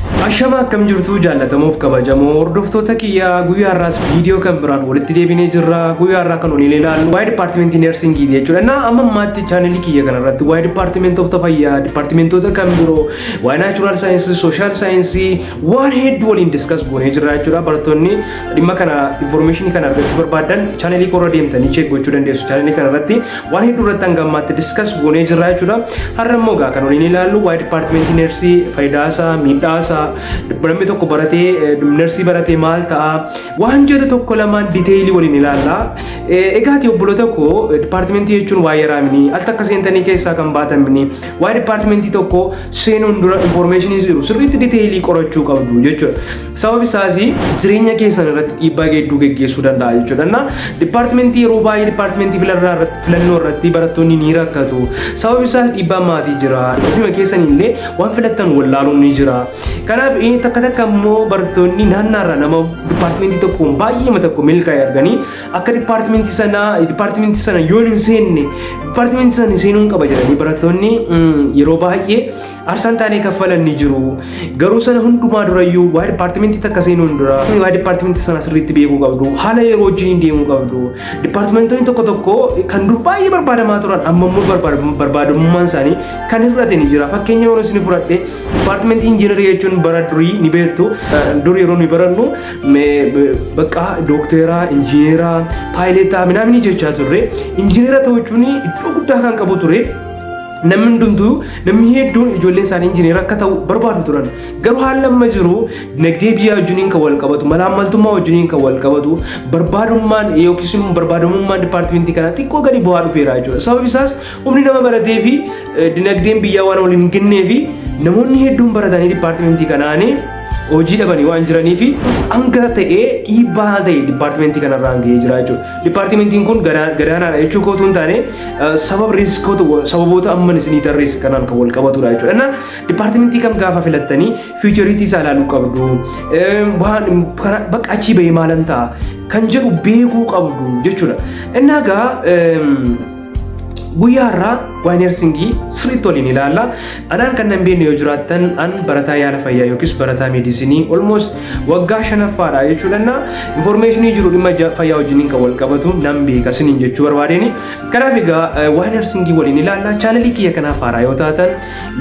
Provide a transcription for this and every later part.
Ashama akkam jirtu jaallatamuuf kabajamoo hordoftoota kiyyaa guyyaa har'aas viidiyoo kan biraan walitti deebinee jirra guyyaa har'aa kan waliin ilaallu waa'ee dipaartimentii neersingiiti jechuudha na amma ammaatti chaanelii kiyya kanarratti waa'ee dipaartimentoota fayyaa dipaartimentoota kan biroo waa'ee naachuraal saayinsii sooshaal saayinsii waan hedduu waliin diskas goonee jirra jechuudha barattoonni dhimma kana informeeshinii kana argachuu barbaadan chaanelii koorra deemtanii cheek gochuu dandeessu chaanelii kanarratti waan hedduu irratti hanga ammaatti diskas goonee jirra jechuudha. Har'a immoo egaa kan waliin ilaallu waa'ee dipaartimentii neersii faayidaa isaa miidhaa isaa namni tokko baratee neersii baratee maal ta'a waan jedhu tokko lamaan diteeyilii waliin ilaalla. Egaati obboloota koo dipaartimentii jechuun waa yaraamini al takka seentanii keessaa kan baatamini waa'ee dipaartimentii tokko seenuun dura infoormeeshinii jiru sirriitti diteeyilii qorachuu qabdu jechuudha. Sababni isaas jireenya keessan irratti dhiibbaa hedduu geggeessuu danda'a jechuudha. Na dipaartimentii yeroo baay'ee dipaartimentii filannoo irratti- filannoo irratti barattoonni ni rakkatu. Sababni isaas dhiibbaan maatii jira. Ofuma keessan illee waan filattan wallaaluun ni jira. Kanaaf eh, takka takka immoo barattoonni naannaarra nama dipaartimentii tokkoon baay'eema tokko milkaa'e arganii akka dipaartimentii sanaa dipaartimentii sana yoo hin seenne dipaartimentii sana seenuun qaba jedhanii barattoonni mm, yeroo baay'ee Arsaan taanee kaffalan ni jiru. Garuu sana hundumaa durayyuu waa dipaartimentii takka seenuun dura waa dipaartimentii sana sirriitti beekuu qabdu. Haala yeroo wajjin deemuu qabdu. Dipaartimentoonni tokko tokko kan dur baay'ee barbaadamaa turan amma immoo barbaadamummaan isaanii kan hir'ate ni jira. Fakkeenya yeroo isin fudhadhe dipaartimentii injiinarii jechuun bara durii ni beektu. Dur yeroo nuyi barannu bakka dookteeraa, injiineeraa, paayileetaa, minaamini jechaa turre. Injiineera ta'uu jechuun iddoo guddaa kan qabu ture. Namni hundumtuu namni hedduun ijoolleen isaanii injineera akka ta'u barbaadu turan. Garuu haalli amma jiru dinagdee biyyaa wajjiniin kan wal qabatu, malaammaltummaa wajjiniin kan wal qabatu, barbaadummaan yookiis immoo barbaadamummaan dipaartimentii kanaa xiqqoo gadi bu'aa dhufeera jechuudha. Sababi isaas humni nama baratee fi eh, dinagdeen biyyaa waan waliin hin gennee fi namoonni hedduun baratanii dipaartimentii kanaanii hojii dhabanii waan jiranii fi hanga ta'ee dhiibbaa ta'e dipaartimentii kanarraa hanga'ee jira jechuudha. Dipaartimentiin kun gadaanaadha jechuu kootu hin taane sababa riiskoota sababoota amman isinii tarreessa kanaan kan wal qabatudha jechuudha. Innaa dipaartimentii kam gaafa filattanii fiichariitii isaa ilaaluu qabdu. Waan bakka achii bahee maalan ta'a kan jedhu beekuu qabdu jechuudha. Innaa gaa Guyyaa har'aa waa'ee neersingii sirriitti waliin ilaalla. Anaan kan nan beekne yoo jiraattan an barataa yaala fayyaa yookiis barataa meedisinii almost waggaa shanaffaadha jechuu danda'a. Infoormeeshinii jiru dhimma ja- fayyaa wajjiniin kan wal qabatu nan beeka isiniin jechuu barbaadeen. Kanaaf egaa eh, waa'ee neersingii waliin ilaalla. Chaanalii kiyya kanaaf haaraa yoo taatan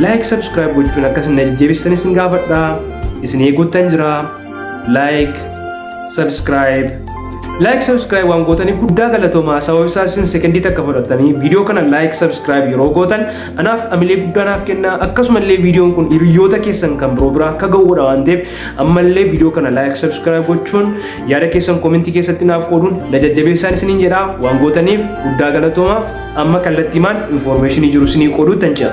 laayik sabskiraayib gochuun akka isin na jajjabeessitan isin gaafadha. Isin eeguuttan jira. like subscribe like subscribe waan gootanii guddaa galatoomaa sababa isaa isin sekendii takka fudhattanii viidiyoo kana like subscribe yeroo gootan anaaf amilee guddaa naaf kenna akkasumallee viidiyoon kun hiriyoota keessan kan biroo biraa akka ga'uudha waan ta'eef ammallee viidiyoo kana like subscribe gochuun yaada keessan koomentii keessatti naaf qooduun na jajjabeessaan isiniin jedha waan gootaniif guddaa galatoomaa amma kallattiimaan infoormeeshinii jiru isinii qooduu tan ce'a.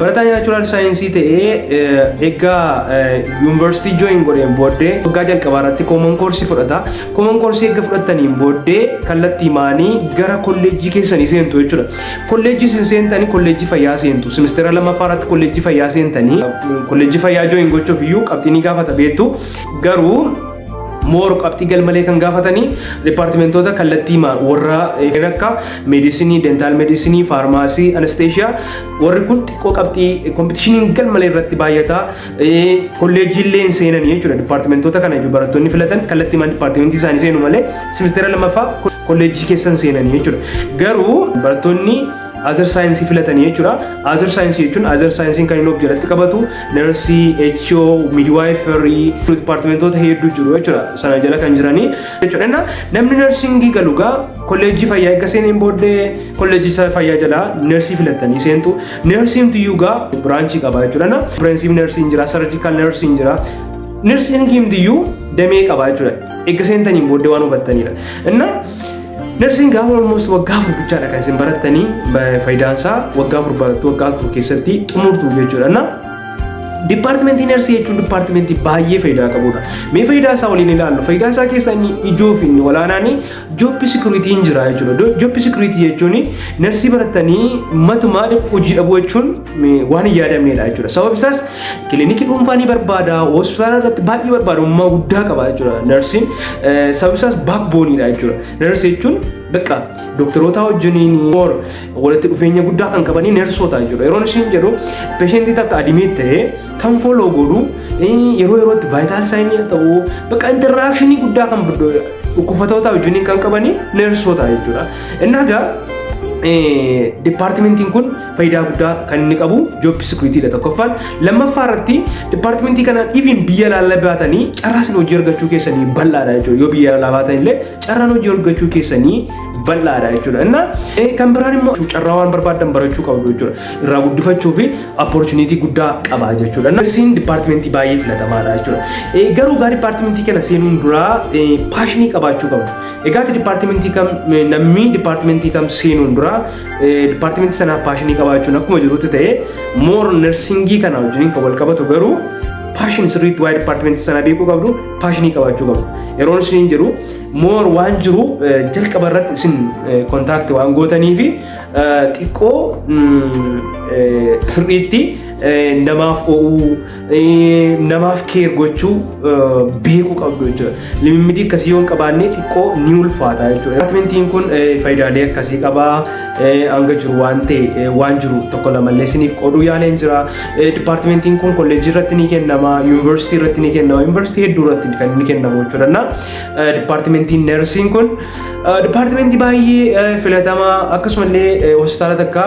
Barataa naachuraal saayinsii ta'ee egaa yuunivarsiitii jooyin godheen booddee waggaa jalqabaa irratti kooman koorsii fudhata. Kooman koorsii erga fudhattaniin booddee kallattii maanii gara kolleejjii keessanii seentu jechuudha. Kolleejjii isin seentanii kolleejjii fayyaa seentu. Simisteera lammaffaa irratti kolleejjii fayyaa seentanii kolleejjii fayyaa jooyin gochuuf iyyuu qabxii ni gaafata beektu. Garuu moor qabxii galmalee kan gaafatanii dipaartimentoota kallattii warra kan akka meedisinii, dentaal meedisinii, faarmaasii, anesteeshiyaa Warri kun xiqqoo qabxii kompitishiniin galmalee irratti baay'ataa kolleejiillee hin seenan jechuudha. Dipaartimentoota kana iyyuu barattoonni filatan kallattii mana dipaartimentii isaanii seenu malee simisteera lamaffaa kolleejii keessa hin seenan jechuudha. Garuu barattoonni azar saayinsii filatanii jechuudha. Azar saayinsii jechuun azar saayinsiin kan inni of jalatti qabatu narsii, HO, midwaayifarii, dipaartimentoota hedduu jiru jechuudha. Sana jala kan jiranii jechuudha. Namni narsiingii galu gaa Kolleejjii fayyaa erga seeneen booddee kolleejjicha fayyaa jalaa neersii filattanii seentu. Neersiin tiyyuugaa biraanchii qabaa jechuudha. Na fireensiif neersiin jira, sarjikaal neersiin jira. Neersiin himtiyyuu damee qabaa jechuudha. Erga seentaniin booddee waan hubattanidha. Inna neersiin gaafa olmoos waggaa afur bichaadha kan isin barattanii faayidaan isaa waggaa afur barattu waggaa afur keessatti xumurtu jechuudha. Na Dipaartimentii neersii jechuun dipaartimentii baay'ee faayidaa qabudha. Mee faayidaa isaa waliin ilaallu. Faayidaa isaa keessaa inni ijoo fi inni olaanaan Job security hin jira jechuudha. Job security jechuun narsii barattanii matumaa hojii dhabuu jechuun waan hin yaadamneedha jechuudha. Sababni isaas kilinikii dhuunfaa ni barbaada, hospitaala irratti baay'ee barbaadamummaa guddaa qaba jechuudha narsiin. Sababni isaas baakbooniidha jechuudha. Narsi jechuun bakka dooktarootaa wajjiniin walitti dhufeenya guddaa kan qabanii neersoota jechuudha. Yeroon ishiin jedhu peeshentii takka adimeet ta'ee kan fooloo godhu yeroo yerootti vaayitaal saayinii ta'uu bakka interaakshini guddaa kan dhukkubsatootaa wajjin kan qabanii neersoota jechuudha. Inni egaa dipaartimentiin kun faayidaa guddaa kan inni qabu job sikiriitiidha tokkoffaan lammaffaa irratti dipaartimentii kanaan even biyya laalaa baatanii carraan hojii argachuu keessanii bal'aadha jechuudha yoo biyya laalaa baatan illee carraan hojii argachuu keessanii bal'aadha jechuudha. Inna kan biraan immoo carraa waan barbaadan barachuu qabdu jechuudha. Irraa guddifachuu fi opportunity guddaa qaba jechuudha. Nursing departmentii baay'ee filatamaadha jechuudha. Garuu gaa departmentii kana seenuun duraa paashinii qabaachuu qabdu. Egaati departmentii kam namni departmentii kam seenuun duraa departmentii sanaaf paashinii qabaachuun akkuma jirutti ta'ee moor nursingii kana wajjin kan wal qabatu garuu paashinii sirriitti waa'ee departmentii sanaa beekuu qabdu paashinii qabaachuu qabdu. Yeroon isiniin jedhu moor waan jiru jalqaba irratti isin kontaakti waan gootanii fi xiqqoo sirriitti namaaf oo'uu namaaf keer gochuu beekuu qabdu jechuudha. Limimmidii akkasii yoo hin qabaanne xiqqoo ni ulfaata jechuudha. Atmentiin kun faayidaalee akkasii qaba hanga jiru waan ta'e waan jiru tokko lamallee isiniif qooduu yaaleen jira. Dipaartimentiin kun kolleejjii irratti ni kennama, yuunivarsiitii irratti ni kennama, yuunivarsiitii hedduu irratti kan ni kennamu jechuudha. Dipaartimentiin Nersiin kun dipaartimentii baay'ee filatamaa akkasumallee hospitaala takka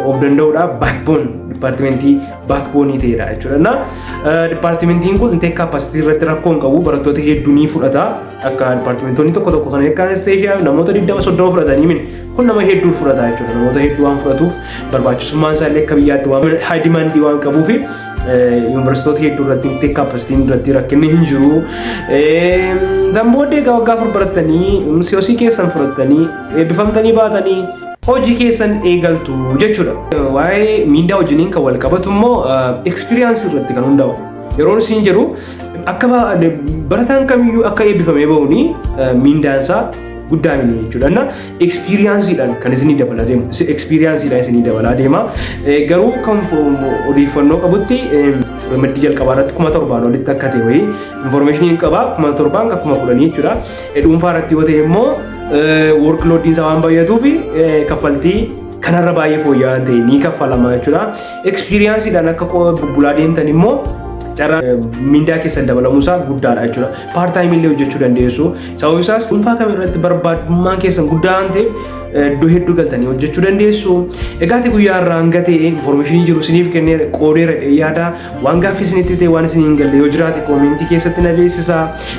of danda'uudha backbone dipaartimentii backbone ta'edha jechuudha. Na dipaartimentiin kun intake capacity irratti rakkoo hin qabu barattoota hedduu ni fudhata akka dipaartimentoonni tokko tokko kan akka anesteeshiyaa namoota 20-30 fudhatanii min kun nama hedduu fudhata jechuudha namoota hedduu waan fudhatuuf barbaachisummaan isaa illee akka biyyaatti waan high demand waan qabuufi Yuunivarsiitoota hedduu irratti miti kaapastiin irratti rakkinni hin jiru. Kan booddee egaa waggaa afur barattanii misiyosii keessan fudhattanii eebbifamtanii baatanii hojii keessan eegaltu jechuudha. Waa'ee miindaa wajjiniin kan wal qabatu immoo ekspiriyaansii irratti kan hundaa'u. Yeroon isin jedhu akka barataan kamiyyuu akka eebbifamee ba'uuni miindaansaa guddaa miti jechuudha. Ekspiriyaansiidhaan kan isinii dabalaa deema. Ekspiriyaansiidhaan isinii dabalaa deema. Garuu kan odeeffannoo qabutti ramaddii jalqabaa irratti kuma torbaan olitti akka ta'e wayii infoormeeshiniin qaba kuma torbaan kan kuma kudhanii jechuudha. Dhuunfaa irratti yoo ta'e immoo workloodiin isaa waan baay'atuuf kaffaltii kanarra baay'ee fooyya'aa ta'e ni kaffalama jechuudha. Ekspiriyaansiidhaan akka bubbulaa deemtan immoo carraa mindaa keessan dabalamuusaa guddaadha jechuudha. Paartaayimii illee hojjechuu dandeessu. Sababni isaas dhuunfaa kam irratti barbaadummaan keessan guddaa waan ta'eef iddoo hedduu galtanii hojjechuu dandeessu. Egaa ati guyyaa irraa hanga ta'e infoormeeshinii jiru isiniif kennee qoodeera jedhee yaada. Waan gaaffii isinitti ta'e waan isin hin galle yoo jiraate koomentii keessatti na beeksisa.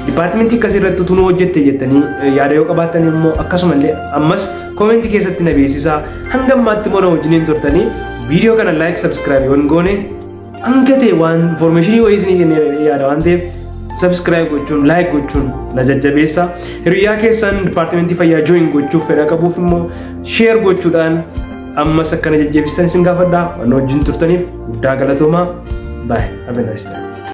Dipaartimentii akkasii irratti utuu nu hojjette jettanii yaada yoo qabaattan immoo akkasumallee ammas koomentii keessatti na beeksisa. Hanga ammaatti immoo na wajjiniin turtanii viidiyoo kana laayik sabskiraayib yoo hin goone Hanga ta'e waan information wayii isinii kennee jedhee yaada waan ta'eef subscribe gochuun like gochuun na jajjabeessa. Hiriyaa keessan dipaartimentii fayyaa join gochuuf fedha qabuuf immoo share gochuudhaan ammas akka na jajjabeessitan isin gaafadha. Waan wajjin turtaniif guddaa galatoomaa. Bye. Have a nice time.